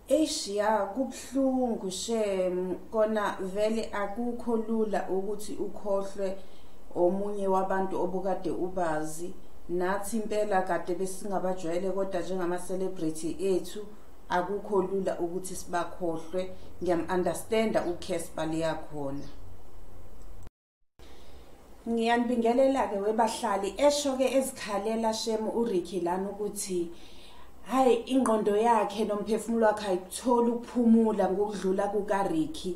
eish ya kubuhlungu shem kona vele akukho lula ukuthi ukhohlwe omunye wabantu obukade ubazi nathi impela kade besingabajwayele kodwa njengama celebrity ethu akukho lula ukuthi sibakhohlwe ngiyam-understanda ukhesba liyakhona ngiyanibingelela-ke webahlali esho-ke ezikhalela shemu uriki lana ukuthi hhayi ingqondo yakhe nomphefumulo wakhe ayikutholi ukuphumula ngokudlula kukariki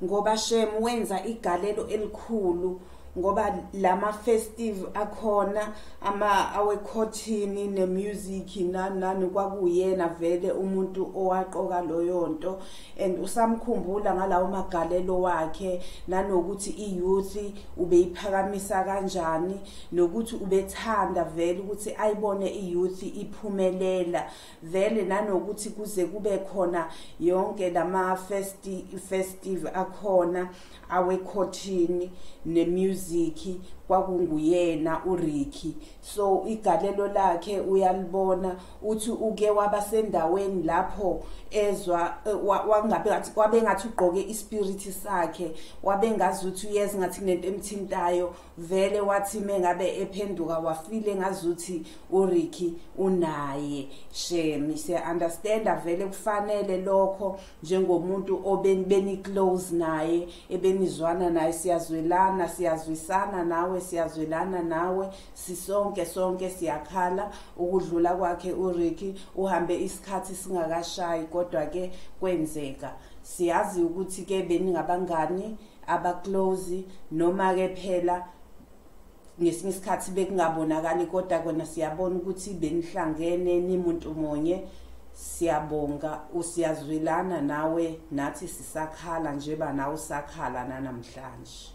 ngoba shemu wenza igalelo elikhulu ngoba lama festive akhona ama awekhothini ne music nani nani kwakuyena vele umuntu owaqoka loyo nto and usamkhumbula ngalawo magalelo wakhe nanokuthi i youth ubeyiphakamisa kanjani nokuthi ubethanda vele ukuthi ayibone i youth iphumelela vele nanokuthi kuze kube khona yonke lama festi festive akhona awekhothini nemusic kwakunguyena uRicky so igalelo lakhe uyalibona uthi uke wabasendaweni lapho ezwa eh, wangabe ngathi wabe ngathi ugqoke ispirit sakhe wabe ngazi ukuthi uyeza ngathi kunento emthintayo vele wathi mengabe ephenduka wafile ngazuthi uRicky unaye shame se understand vele kufanele lokho njengomuntu obenibeni close naye ebenizwana naye siyazwelana siyazwisana nawe siyazwelana nawe sisonke sonke siyakhala ukudlula kwakhe uRicky uhambe isikhathi singakashayi kodwa ke kwenzeka siyazi ukuthi ke beningabangani abaclose noma ke phela ngesinye isikhathi bekungabonakali kodwa kona siyabona ukuthi benihlangene nimuntu munye siyabonga usiyazwelana nawe nathi sisakhala njeba nawe usakhala nanamhlanje